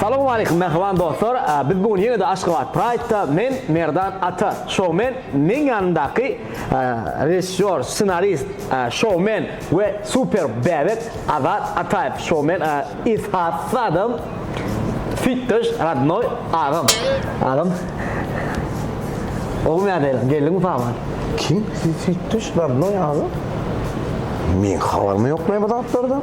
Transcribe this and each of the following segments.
Salowmaleýkim mähriban dostlar biz bu gün ýene-de Aşgabat Praýdda men Merdan Ata, şowmen, meň ýanymdaky režissýor, ssenarist, şowmen we super bäbek Azat Ataýew, şowmen, esasy adam süýtdeş rodnoý agam, agam ogum ýa-da elam, geldiňmi paýhman? Kim süýtdeş rodnoý agam? Meň habarym ýok näme zatlardan.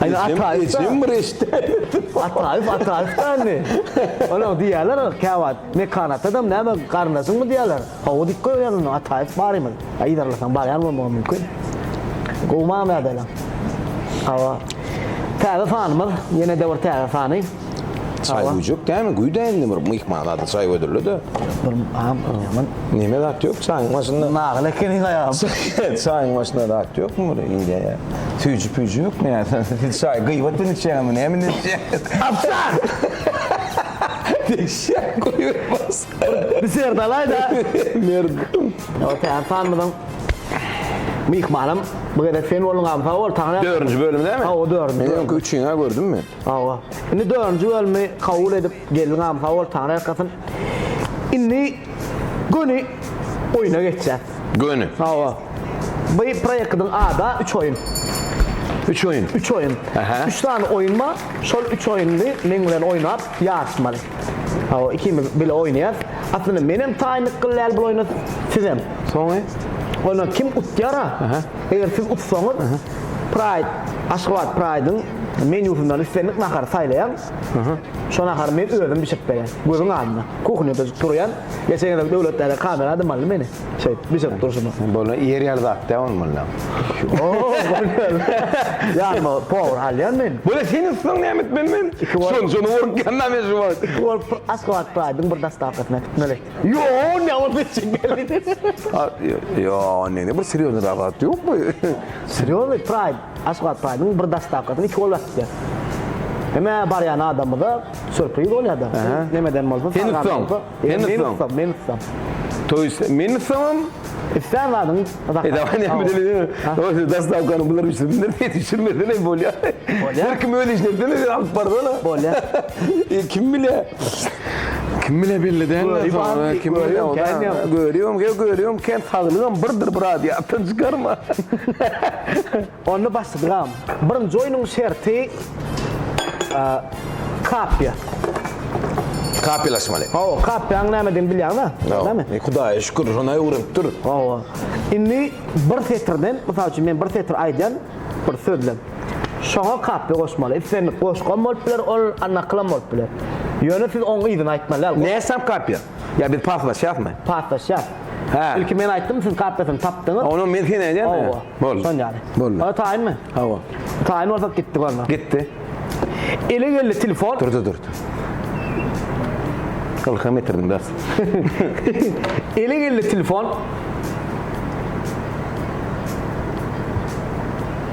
Aýna Ataýew. Ejem bir eşdäýmedi. Ataýew, Ataýew däli. Olar diýýärler käwagt. Mekan atadam näme garyndaşyňmy diýýärler. Hawa diýip goýberýän onda Ataýew barymyz. Aý yzarlasaň barýan bolmagam mümkin. Gowy mamla dälem. Hawa. Täze sanymyz, ýene-de bir täze sany. Çaý güýjek dämi güýdä indi bir myhman zady çaý gödürlede. Bir am ýaman. Neme zat ýok çaýyň başynda. Nagyl ekeniň aýam. Çaýyň başynda zat ýokmy bir indi ýa. Süýji püýji ýokmy ýa. Siz çaý gyýwat bilen içýäňizmi näme bilen içýäňiz? Apsa! Deşýä goýbermez. Bir sert alaýda. Merd. Otaýan sanmydyň? Myhmanym bu gezek sen bolduň am sag bol. Taňra. Dördünji bölüm näme? Hawa dördünji. Men öňki üçiňi-ä gördüm men. Hawa. Indi dördünji bölümi kabul edip geldiňäm sag bol Taňry ýalkasyn. Indi göni oýuna geçýäs. Göni. Hawa. Bu proýektiň ada üç oýun. Üç oýun. Üç oýun. Ähä. Üç sany oýun bar. Şol üç oýuny meň bilen oýnap ýaryşmaly. Hawa ikimiz bile oýnaýas. Aslynda menem taýynlyk gylýal bul oýna sizem. Soňy. Onda kim utýara. Ähä. Eger siz utsaňyz Ähä. Praýd Aşgabat Praýdyň. menýusyndan islendik nahary saýlaýaň. Şo nahary men özüm bişirip berýän. Gözüň alnynda. Kuhnýada turýan. Geçenede Döwletdäde kamera dymmaldy meni. Şeýdip, bişirip durşuma. Bolan ýer ýaly zat däl ony bolýar. Ýanyma powar alýan men. Bole seniň ysyň näme etmeli men? Şonça bolup gelmän men şu wagt. Iki bolup bir Aşgabat praýdyň bir dostawkasyna gitmeli. Ýoo, näme bolup etjek geldi. Ýoo, näme bir serýoznyrag zat ýokmy? Serýoznyý praýd. Asgad Pyragynyň bir dastakasyny iki gol berip ber. Hemä barýan adamyza sürpriz bolýada. Nemeden bolsa Sen ussam. Sen ussam. Men ussam. Toý men ussamam. Islän zadyň zakat. Dastakany bular bişirsinler. Sen bişirmesene bolýa. Bolýa. Her kim öz işini etsene sen alyp barsana. Bolýa. E, kim bile? Kim bile belli däl. Göri bar, kim bile o da. Görüyorum, gel görüyorum, kem saglygam birdir bir adi atdan çykarma. Onda başladygam. Birinji oýnuň şerti kapiýa. Kapiýalaşmaly. Hawa, kapiýanyň nämedigini bilýäňmi? Näme? Hudaýa şükür, şonda öwrenip dur. Hawa. Indi bir setirden, mysal üçin men bir setir aýdýan, bir sözlem. Şoňa kapbe goşmaly. Islendik goşgam bolup biler ol, a nakylam bolup biler. Ýöne siz oň yzyny aýtmaly däl. Näsam kapbe? Ýa biz paslaşýasmy? Paslaşýas. Hä. Ilki men aýtdym, siz kapbesini tapdyňyz. Onam men seni aýdýan. Hawa. Boldy. Şon ýaly. Boldy. Onda taýynmy? Hawa. Taýyn bolsak gitdik onda. Gitdi. Ele geldi telefon. Durdy, durdy. Ylham getirdim bes. Ele geldi telefon.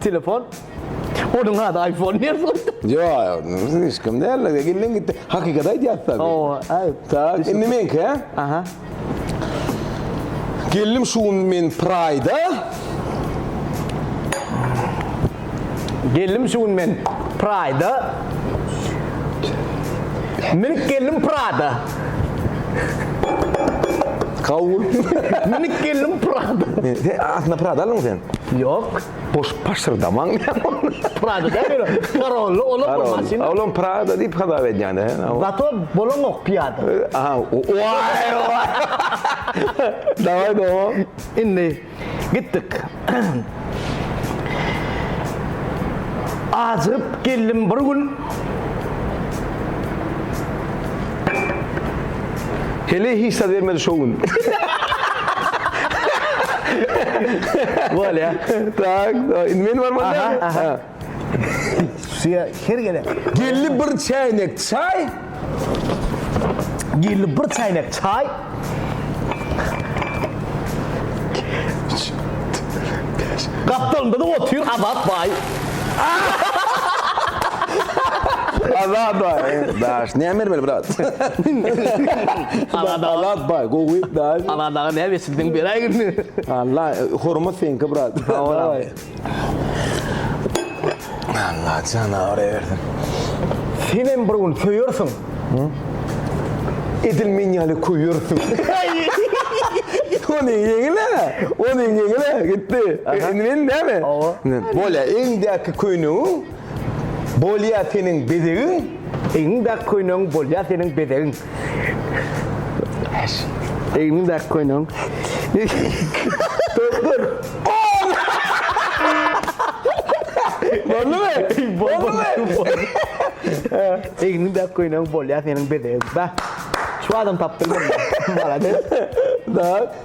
Telefon? Onuň ady Aýfon diýen boldy. Ýok, hiç kim däl. Geliň gitdi. Hakykat aýdýas tabi. Hawa, aýt. Tak, indi meňki, hä? Aha. Geldim şu gün men Praýda. Geldim şu gün men Praýda. Minip geldim Prada. Kabul. Minip geldim Prada. Aslynda Prada aldyň sen? Ýok, goşup paşyrdamaň diýýän ol. Prada däl ýöne, parolly ola bir maşyn. Olam Prada diýip hasap edýän he. Zato bolaňok piýada. Aha, waý waý. Daway dowam. Indi gitdik. Ajygyp geldim bir gün. Heleý hiç zat bermedi şo gün. Bolýa. Tak, indi men barman dälmi? Aha. Suya her gelen. Geldi bir çäýnek çaý. Gelini bir çaýnak çaý. Gapdalynda da otyr Azat baý. Azat baý. Daş, näme bermeli brat? Azat aga. Azat baý, gowy daş. Azat aga näme etdiň beräýgin. Allah, hormat seňki brat. Sag bol. Allah janawyr eýersin. Sen hem bir gün söýersiň. Edil men ýaly köýersiň. Ony ýeňile, ony ýeňile gitdi. Indi men näme? Bolýa, öňdäki köýnegiň Bolýa seniň bezegiň. Egniň bäk köýnegiň. Bolýa seniň bezegiň. Egniň bäk köýnegiň. Doktor. Boldumy? Boldumy? Egniň bäk köýnegiň. Bolýa seniň bezegiň. Bäh. Şu adam tapdymy? Malades. Dagy.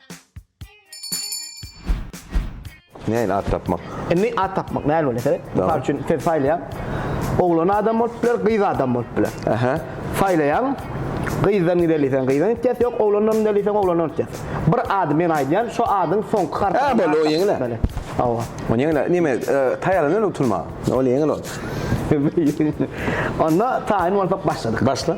Näin at tapmak? Indi at tapmak näin bolýar sebet? Mysal üçin sen saýlaýaň. Oglan adam bolup biler, gyz adam bolup biler. Aha. Saýlaýaň. Gyzdan gideli sen gyzdan gitýäs, ýok oglandan gideli sen oglandan gitýäs. Bir ady men aýdýan, şo adyň soňky harpyny. Ha, bol o ýeňil. Hawa. O ýeňil. Näme, taýýarlanyň utulma. Ol ýeňil ol. Onda taýyn bolsak başladyk. Başla.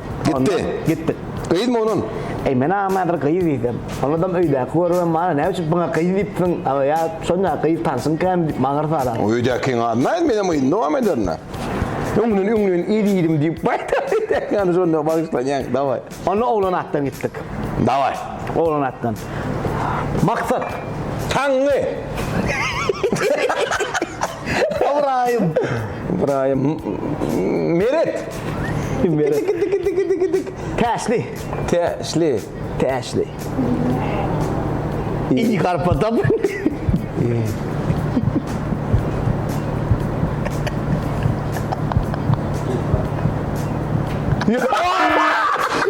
Gitdi. Gitdik. Gyzmy onuň? Eý, men aňam häzir gyz diýsem. Onadam öýdäki görübem maňa näme üçin pyňa gyz diýipsiň, aga ýa şonda gyz tanşyň kän diýip maňa ýarsa alar. Öýdäkiň adyny aýt, menem yzyny dowam ederin-ä. Öňden öňden ir iýdim diýip baýdar öýdäkiň adyny şonda bagyşlanýaň. Dawaý. Onda oglan atdan gitdik. Dawaý. Oglan atdan. Maksat. Taňňy. Ybraýym. Ybraýym. Meret. Meret. Dik dik dik dik dik dik. Täşli. Täşli. Täşli. İyi garpa tap.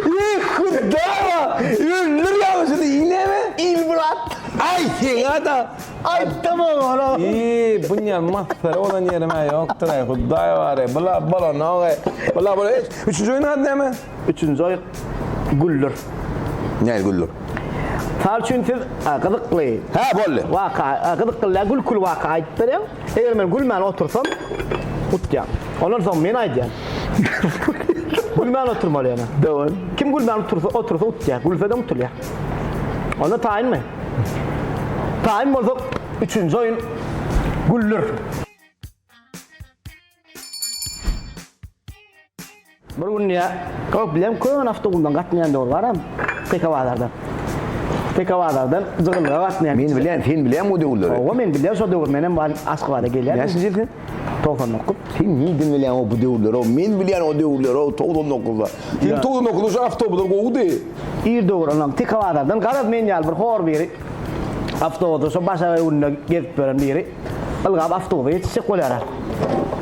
İyi kudara. Öldür yavşını iğne mi? İlmurat. Ay sen adam. Aýtdym oňa. Iý, bunýan masgara bolan ýerim-ä ýokdur-aý, Hudaý bar-aý. Bula bolanok-aý. Bula bol. Eý, üçünji oýnuň ady näme? Üçünji oýun Güldür. Näme Güldür? Mysal üçin siz gyzykly. Hä, boldy. Waka, gyzykly däl, gülküli waka aýdyp berýäň. Eger men gülmän otursam, utýaň. Ondan soň men aýdýan. Gülmän oturmaly ýöne. Dowam. Kim gülmän otursa, otursa utýar. Gülse de utulýar. Onda taýynmy? Taýyn bolsak, üçünji oýun güller. Bir günde köp bilen köne awtoulagdan gatnaýan döwür baram, TK bazardan. TK bazardan Jygylga gatnaýan. Men bilýän, sen bilýäňmi o döwürleri? Hawa, men bilýän şo döwür, menem Aşgabada gelýärdim. Näçinji ýyl sen? Togsan dokuz? Sen nirden bilýäň-ow bu döwürleri-ow? Men bilýän o döwürleri-ow, togsan dokuzda. Seň togsan dokuzda şu awtobuslar gowudy. Ir döwür onam Tikabazardan garaz men ýaly bir hor biri awtobusda şo Başak öwründe gezip ýören biri ylgap awtobusa ýetişjek bolýar-a.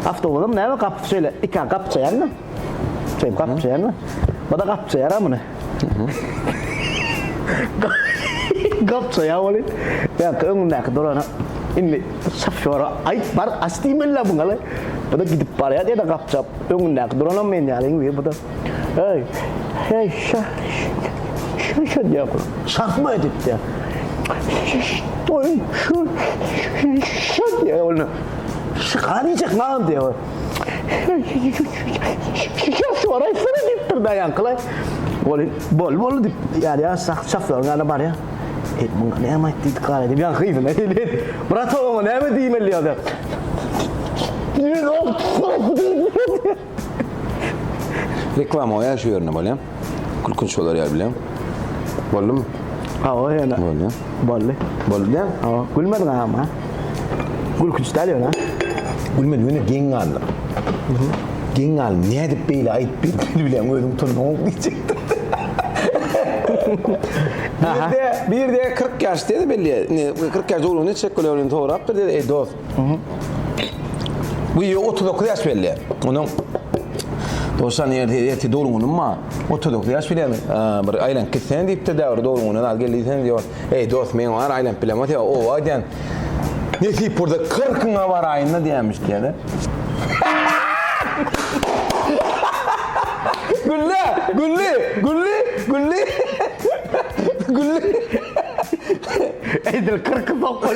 Awtobusam näme gapysy şeýle iki gap çeýärmi? Şeýdip gap çeýärmi? Bu-da gap çeýär-a muny. Gapça ýa boli. Ýa-da öňündäki durana indi şofýora aýt bar aç diýmeli-le muňa-le. Bu-da gidip barýar ýa-da gapça öňündäki duranam men ýaly indi bu-da. Eý, eý şa, şa, şa diýýär. Şahma edip diýýär. Şa, şa, şa diýýär ol indi. Şyka diýjek maňa diýýär. Şikes bar aýtsana diýipdir daýankylaý. Ol bol bol diýip ýarýar şah şaplaryň ýanyna barýar. Ey muňa näme aýt diýdik gaýra diýip ýaňky yzyna gelýär. Brata oňa näme diýmeli ýa-da. Reklama goýaý şu ýerine bolýa. Gülkünç bolar ýaly bileň. Boldumy? Hawa ýöne. Boldy. Boldy. Boldy diýen? Hawa. Gülmediň ama. Gülkünç däl ýöne. Gülmedi ýöne geň galdy. Geň galdy. Nädip beýle aýdyp bildim bileň özüň tunuň diýjekdim. Aha. Birde 40 ýaş diýdi belli. Indi 40 ýaş dogrunda çekgölerini sorapdyr diýdi. Eý dost. Bu ýe otuz dokuz ýaş belli. Onuň Dowşan ýerde ýeti doluňuny ma. Otuz dokuz ýaş bilen bir aýlanyp gitsen diýipdir däwir doluňuny az geldi diýsen ýok. Eý dost men bar aýlanyp bilemok diýip owa diýen. Nesip bolsa kyrkyňa baraýynda diýenmiş diýdi. Gülle! Gülli! Gülli! Gülli! Gülli! Edil kyrky sokgan.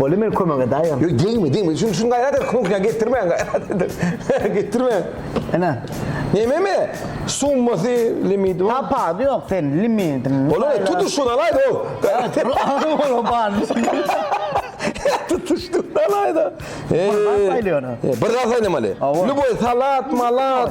Boli men kömek edayim. Yok degme degme. Şunu şunu gayrat et. Komkuna getirme. getirme. Ana. Neme mi? Summası limiti var. Tapa yok sen limitin. Ola tutuş şunu alaydı o. Ola ola bari. Tutuştu alaydı. Ee, bir daha saylamalı. Lüboy salat malat.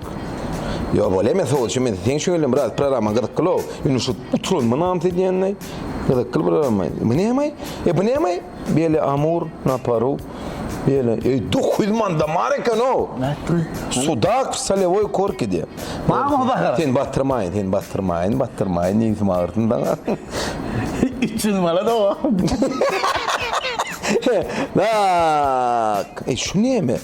Ýok ol emes ol şu men seň şöyle biraz programmaň gyzyklylow indi şu utulanma namys edýänleý gyzykly programma bu nämaý e bu nämaý beli amur na paru beli eý dokuz ýüz manda bar ekenow sudak w solewoý korkide barmy bahar sen batyrmaýyn sen batyrmaýyn batyrmaýyn nebsim agyrtyn saňa üç ýüz mala dowam he naak e şu näme.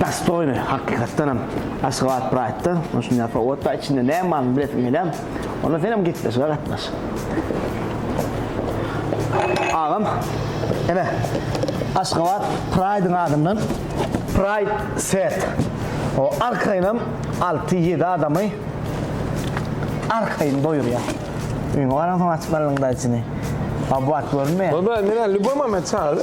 Dostoýny, hakykatdanam, Aşgabat Praýdda şundaýar powod bar, içinde näme baryny bilesiň gelýär. Onda senem gepleşige gatnaş. Agam, ine, Aşgabat Praýdyň adyndan Praýd Set. O arkaýynam alty-ýedi adamy arkaýyn doýurýar. Öýüňe baransoň açyp allyň daýçyny. Baba bu wagt görünmeýär. Baba, menä lýuboý moment çagyr.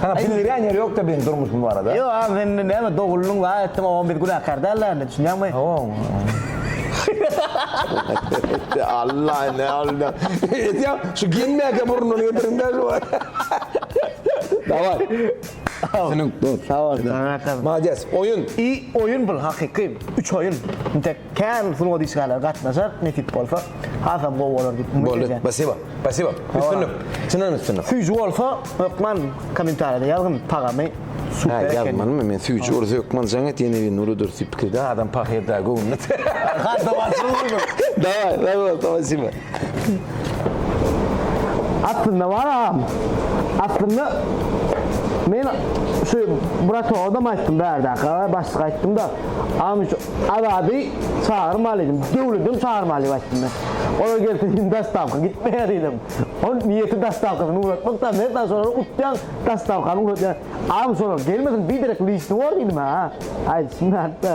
Sana pul berýän ýeri ýokda benim durmuşym barada. Ýok aga men näme doguldyň wagyz etdiň o biz günäkär däl däl indi düşünýäňmi. Alla ne oldu. Eýsem şu geň mäke burnuny getirdiňdä şu. Daway. Seniň. Sag bol. Maladýes. Oýun. I oýun bul hakyky. Üç oýun. Intek. Kän sungat işgärleri gatnaşar nesip bolsa hasam gowy bolar diýip umyt edýän. Boldy. Spasibo. Spasibo. Üstünlik. Çyndanam üstünlik. Süýji bolsa hökman komentariýada ýazgyn tagamy super ekeni. Hä ýazmanymy men süýji bolsa hökman jaň et ýene bir Nury Dursyp pikirde adam pahyr da göwnüne. Arkan tomaşa bolsun. Daway sag bol spasibo. Aslynda bar agam. Aslynda men şu bratovadam aýtdym bärdäka başlyk aýtdymda agam şu azady çagyrmalydyň döwledem çagyrmaly diýip aýtdym men. Olar gelse hiç dastawka gitmeýär diýdim. Ol niýeti dastawkasyny ugratmak da men sana şolary utýan dastawkany ugratýan. Agam şolar gelmesin biderek lişni bor diýdim ha. Aýdyşym ýatda.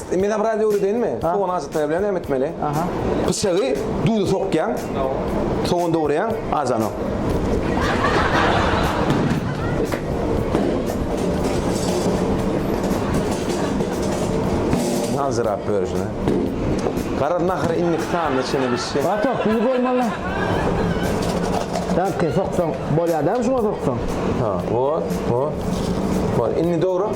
Mena biraz öwredeýinmi? Sogan azat bilen näme etmeli? Aha. Pyçagy düýne sokýaň. Sogan dogurýaň, ajanok. Aljyrap börüjine. Garaz nahyr indik sanyna çene bişsin. Gato, düzi goýmaly. Dämke soksaň bolýar, dämi şuňa soksaň. Ha, bor, bor. Bor, indi dogrup.